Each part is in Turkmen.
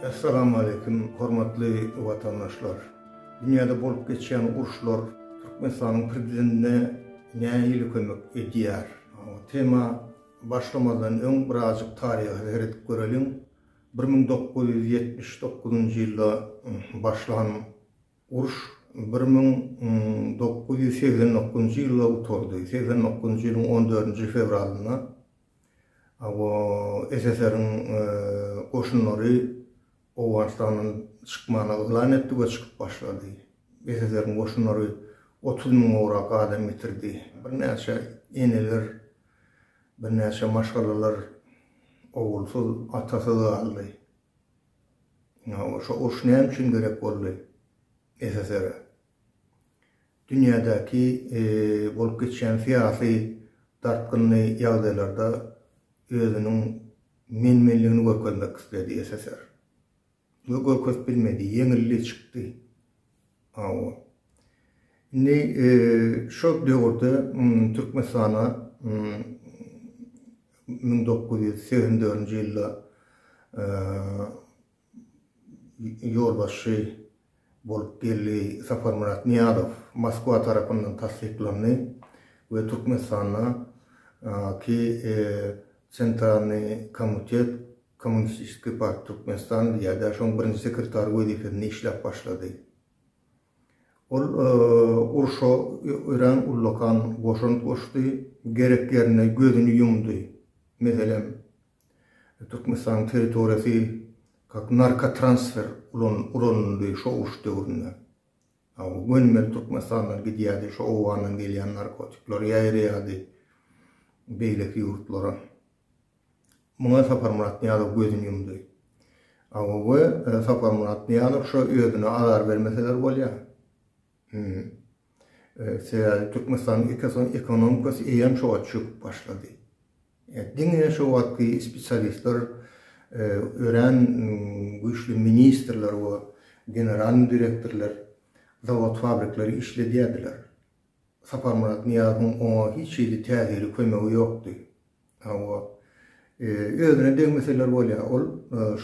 Essalamualeýkum hormatly watandaşlar! Dünýäde bolup geçýän uruşlar Türkmenistanyň prezidentine nähili kömek edýär? Tema başlamazdan öň birazjyk taryha seredip göreliň. Bir müň dokuz ýüz ýetmiş dokuzynjy ýylda başlan uruş bir müň dokuz ýüz segsen dokuzynjy ýylda gutardy. Segsen dokuzynjy ýylyň on dördünji fewralynda Awa, SSR-iň goşunlary Owganystandan çykmana yglan etdi we çykyp başlady. SSR-iň goşunlary otuz müň gowrak adam ýitirdi. Birnäçe eneler, birnäçe maşgalalar ogulsyz, atasyz galdy. Ine, awa, şo uruş näme üçin gerek boldy SSR-e? Dünýädäki bolup geçýän syýasy dartgynly ýagdaýlarda özüniň men-menligini görkezmek isledi SSR. We görkezip bilmedi, ýeňildi, çykdy. Hawa. Indi şol döwürde Türkmenistana müň dokuz ýüz segsen dördünji ýylda ýolbaşçy bolup geldi. Saparmyrat Nyýazow Moskwa tarapyndan tassyklandy we Türkmenistanda ki Sentralnyý komutet Kommunistiskiý parti Türkmenistan diýýärdi, şoň birinji sekretary wezipesinde işläp başlady. Ol urşa örän ullakan goşant goşdy, gerek ýerinde gözüni ýumdy. Meselem, Türkmenistanyň territoriýasy kak narkotransfer ulan ulanyldy şo uruş döwründe. Aw gönümel Türkmenistandan gidýärdi şo Owgandan gelýän narkotikler ýaýraýardy beýleki ýurtlara. Muňa Saparmyrat Nyýazow gözüni ýumdy. Aw we Saparmyrat Nyýazow şo özüne azar bermeseler bolýar. Sebäbi Türkmenistanyň ekosony ekonomikasy eýýäm şo wagt çöküp başlady. Diňe şo wagtky spesialistler örän güýçli ministrler we generalnyý direktorlar zawod-fabrikleri işledýärdiler. Saparmyrat Nyýazowyň oňa hiç hili täsiri, kömegi ýokdy. Hawa. Özüne degmeseler bolýar. Ol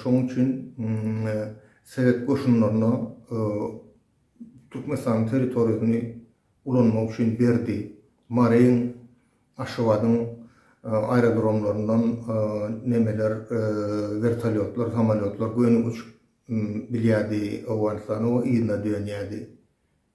şonuň üçin sowet goşunlaryna Türkmenistanyň territoriýasyny ulanmak üçin berdi. Maryň, Aşgabadyň aerodromlaryndan nemeler, wertolýotlar, samolýotlar göni uçup bilýärdi Owganystana we yzyna dönýärdi.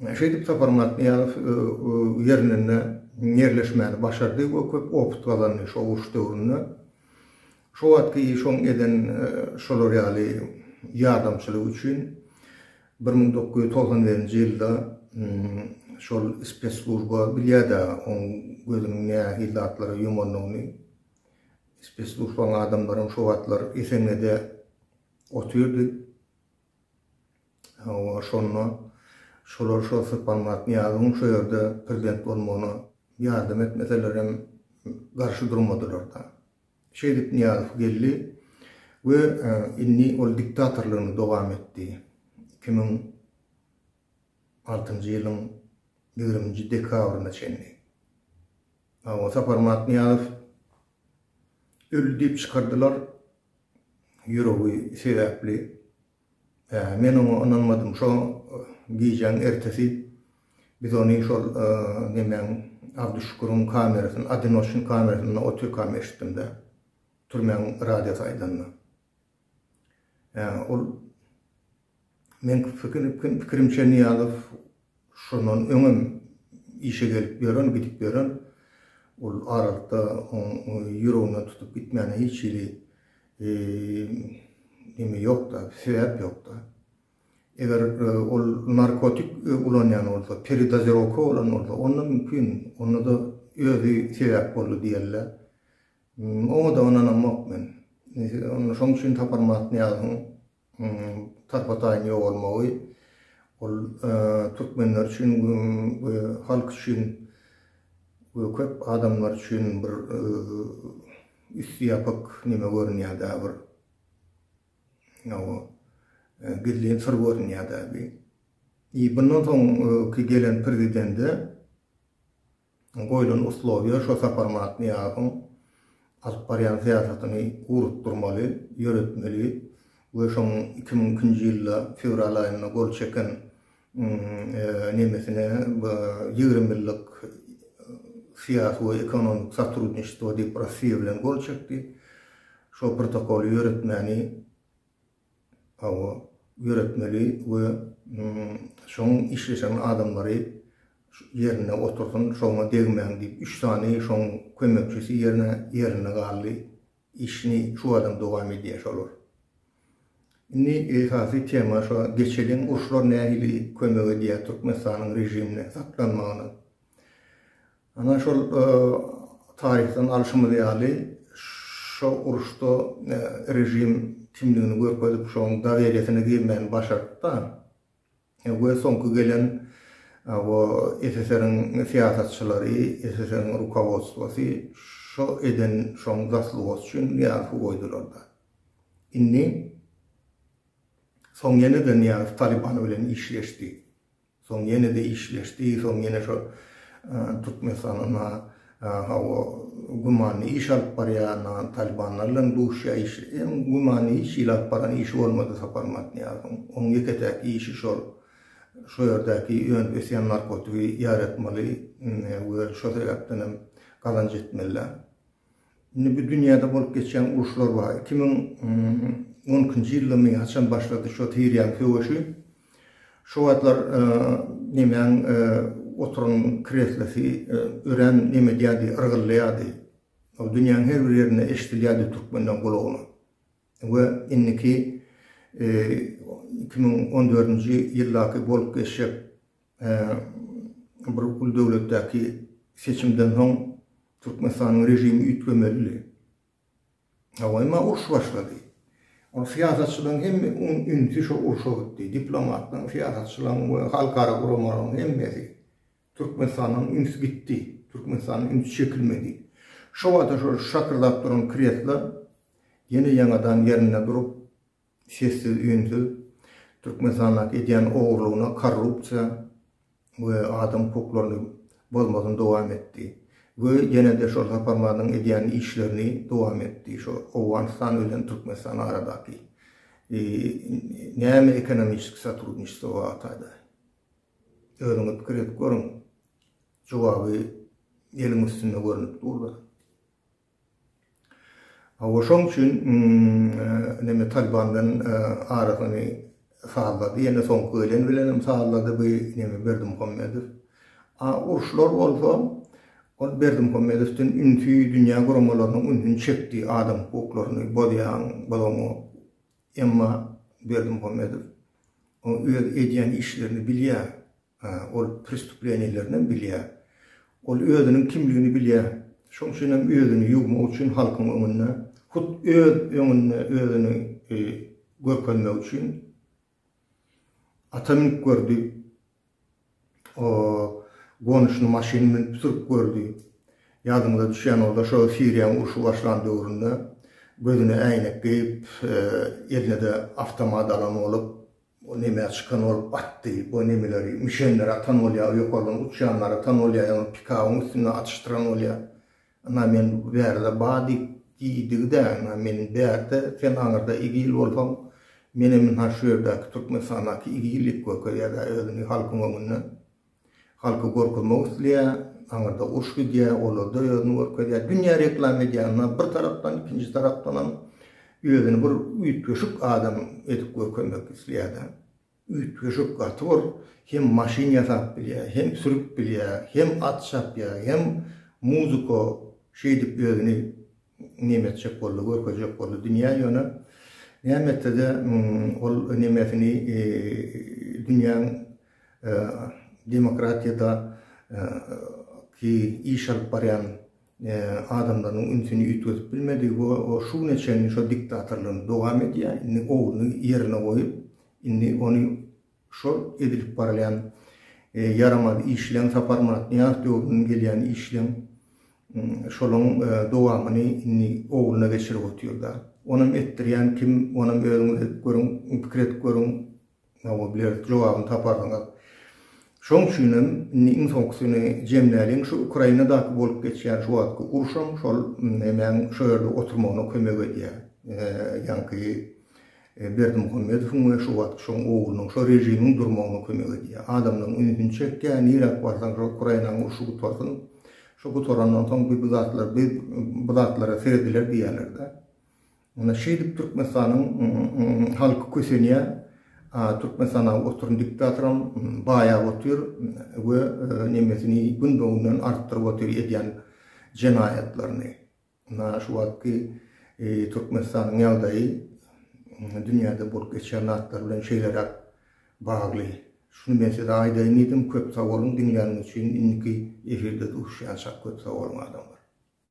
Şeýdip Sapar Matnyýazow ýerinde ýerleşmäni başardy we köp opyt gazandy şo uruş döwründe. Şo wagtky iş oň eden şolar ýaly ýardamçylygy üçin bir müň dokuz ýüz togsan birinji ýylda şol spesslujba bilýär-de oň gözüniň nähili zatlara ýumandygyny. Spesslujbaň adamlaram şo wagtlar Esenede otyrdy. Hawa, şonda şolar şo Syrpanmyrat Nyýazowyň şo ýerde prezident bolmagyna ýardam etmeselerem, garşy durmadylar-da. Şeýdip Nyýazow geldi we indi ol diktatorlygyny dowam etdi. Iki müň altynjy ýylyň ýigriminji dekabryna çenli. Hawa, Saparmyrat Nyýazow öldi diýip çykardylar, ýüregi sebäpli. Men oňa ynanmadym. Şo gijäň ertesi biz ony şol nemäň, Abduşüküriň kamerasyny, Odinoçnyň kamerasynda otyrkam eşitdim-de, türmäň radiosy aýdanyny. Ol Meň pikirimçe Nyýazow şondan öňem işe gelip ýören, gidip ýören, ol aralykda oň ýüreginden tutup gitmäne hiç hili neme ýok-da, sebäp ýok-da. Eger ol narkotik ulanýan bolsa, peredozirowka bolan bolsa, onda mümkin, onda-da özi sebäp boldy diýerler. Oňa-da ynanamok men. Şoň üçin Saparmyrat Nyýazowyň tarpataýyn ýogalmagy, ol türkmenler üçin we halk üçin we köp adamlar üçin bir üsti ýapyk neme görünýär-dä bir. Hawa. Gizlin syr görünýär-dä bir. Bundan soňky gelen prezidende Goýlan uslowýa şo sapar Matnyýazowyň alyp barýan syýasatyny ugrukdyrmaly, ýöretmeli we şoň iki müň ikinji ýylda fewral aýynda gol çeken nemesine ýigrimi ýyllyk syýasy we ekonomik sotrudniçestwo diýip Rossiýa bilen gol çekdi. Şo protokoly ýöretmäni Hawa, ýöretmeli we şoň işleşen adamlary ýerinde otursyn, şoňa degmäň diýip, üç sany şoň kömekçisi ýerine ýerinde galdy. Işini şu badam dowam edýär şolar. Indi esasy tema şo geçelin uruşlar nähili kömek edýär Türkmenistanyň režimine saklanmagyna. Ana şol taryhdan alşymyz ýaly, şo uruşda režim kimdigini görkezip, şoň daweriýesine girmäni başarypda we soňky gelen o SSR-iň syýasatçylary, SSR-iň rukowodstwosy şo eden şoň zaslugosy üçin Nyýazowy goýdularda. Indi soň ýene-de Nyýazow Talyban bilen işleşdi. Soň ýene-de işleşdi. Soň ýene şo Türkmenistanyň hawa gümanly iş alyp barýan Talibanlar bilen duşýar. Iş hem gümanly hiç hili alyp baran işi bolmady Sapar Matniýazowyň. Oň ýeke-täk işi şol şo ýerdäki önüp ösýän narkotigi ýaratmaly we şo sebäpden hem gazanç etmeli. Indi bu dünýäde bolup geçýän uruşlar bar. Iki müň on ikinji ýyldymy, haçan başlady şo Siriýanyň söweşi. Şo wagtlar nemäň oturan kreslosy örän neme edýärdi, yrgyldaýardy. Ol dünýäniň her bir ýerinde eşidilýärdi türkmenden gulagyna. We indiki iki müň on dördünji ýyldaky bolup geçjek bir uly döwletdäki seçimden soň Türkmenistanyň režimi üýtgemelidi. Hawa, emma uruş başlady. Ol syýasatçylaryň hemme ünsi şo urşa gitdi. Diplomatlaryň, syýasatçylaryň we halkara guramalaryň hemmesi. Türkmenistandan üns gitdi. Türkmenistandan üns çekilmedi. Şo wagta şol şakyrdap duran kresla ýene ýaňadan ýerinde durup, sessiz-üýnsüz Türkmenistandaky edýän ogurlygyna korrupsiýa we adam hukuklaryny bozmasyny dowam etdi we ýene-de şol Saparmazyň edýän işlerini dowam etdi şu Owganystan bilen Türkmenistan aradaky näme ekonomiçeskiý sotrudniçestvo bartada özüňiz pikir edip görüň jogaby eliň üstünde görünip dur-da. Hawa şoň üçin neme Taliban bilen arasyny sazlady ýene soňky gelen bilenem sazlady bu neme Berdimuhamedow. A uruşlar bolsa ol Berdimuhamedowdan ünsi dünýä guramalarynyň ünsüni çekdi adam hukuklaryny bozýaň bozoňa emma Berdimuhamedow öz edýän işlerini bilýär Hä, ol prestuplenilerinden bilýär. Ol özüniň kimligini bilýär. Şoň üçin hem özüni ýuwmak üçin halkyň öňünde, hut öz öňünde özüni görkezmek üçin ata münüp gördi. O gonuşyny maşyny münüp sürüp gördi. Ýadyňyza düşýän bolsa, şo Siriýanyň urşy başlan döwründe gözüne äýnek geýip, eline-de awtomat alan bolup, Bu neme çykan ol batdy bu nemeleri müşenleri atan bolýa ýokardan uçýanlary atan bolýa ýaňy pikabyň üstünde atyşdyran bolýa ynha men bu bärde ba diýip diýdigidä ynha men bärde sen aňyrda igil bolsaň menem ynha şu ýerdäki türkmenistandaky igil diýip görkezýädä özüni halkyň öňünde. Halky gorkuzmak isleýär, aňyrda uruş gidýär, olarda özüni görkezýär, dünýä reklama edýär, ynha bir tarapdan, ikinji tarapdanam özüni bir üýtgeşik adam edip görkezmek isleýär-de. Üýtgeşik, gaty bir hem maşyn ýasap bilýär, hem sürüp bilýär, hem at çapýar, hem muzika şeýdip özüni neme etjek boldy, görkezjek boldy dünýä, ýöne näme etse-de ol nemesini dünýäň Demokratiýada ki iş alyp barýan adamlarynyň ünsüni üýtgedip bilmedi we o şu güne çenli şo diktatorlygyny dowam edýär. Indi ogluny ýerine goýup, indi ony şol edilip barylýan ýaramaz işleň, Saparmyrat Nyýazow döwründen gelýän işleň şolaň dowamyny indi ogluna geçirip otyr-da. Onam etdirýän kim, onam özüňiz edip görüň, pikir edip görüň, Oňa bilerik jogabyny taparsyňyz. Şoň üçinem indi iň soňkusyny jemläliň, şu Ukrainadaky bolup geçýän şu wagtky uruşam şol emäň şo ýerde oturmagyna kömek edýär. Ýaňky Berdimuhamedowyň we şu wagtky şoň oglunyň şo režimiň durmagyna kömek edýär. Adamlaryň ünsüni çekýär, niräk barsaň şo Ukrainanyň urşy gutarsyn. Şo gutarandan soň biz bu zatlar biz bu zatlara serediler diýýärler-de. Muna şeýdip Türkmenistanyň halky kösenýär. Türkmenistanaky oturan diktatoram baýap otyr we nemesini gün be günden artdyryp otyr edýän jenaýatlaryny. Muna şu wagtky Türkmenistanyň ýagdaýy dünýäde bolup geçýän zatlar bilen şeýleräk bagly. Şuny men size aýdaýyn diýdim. Köp sag boluň diňläniňiz üçin. Indiki efirde duşýançak köp sag boluň adamlar.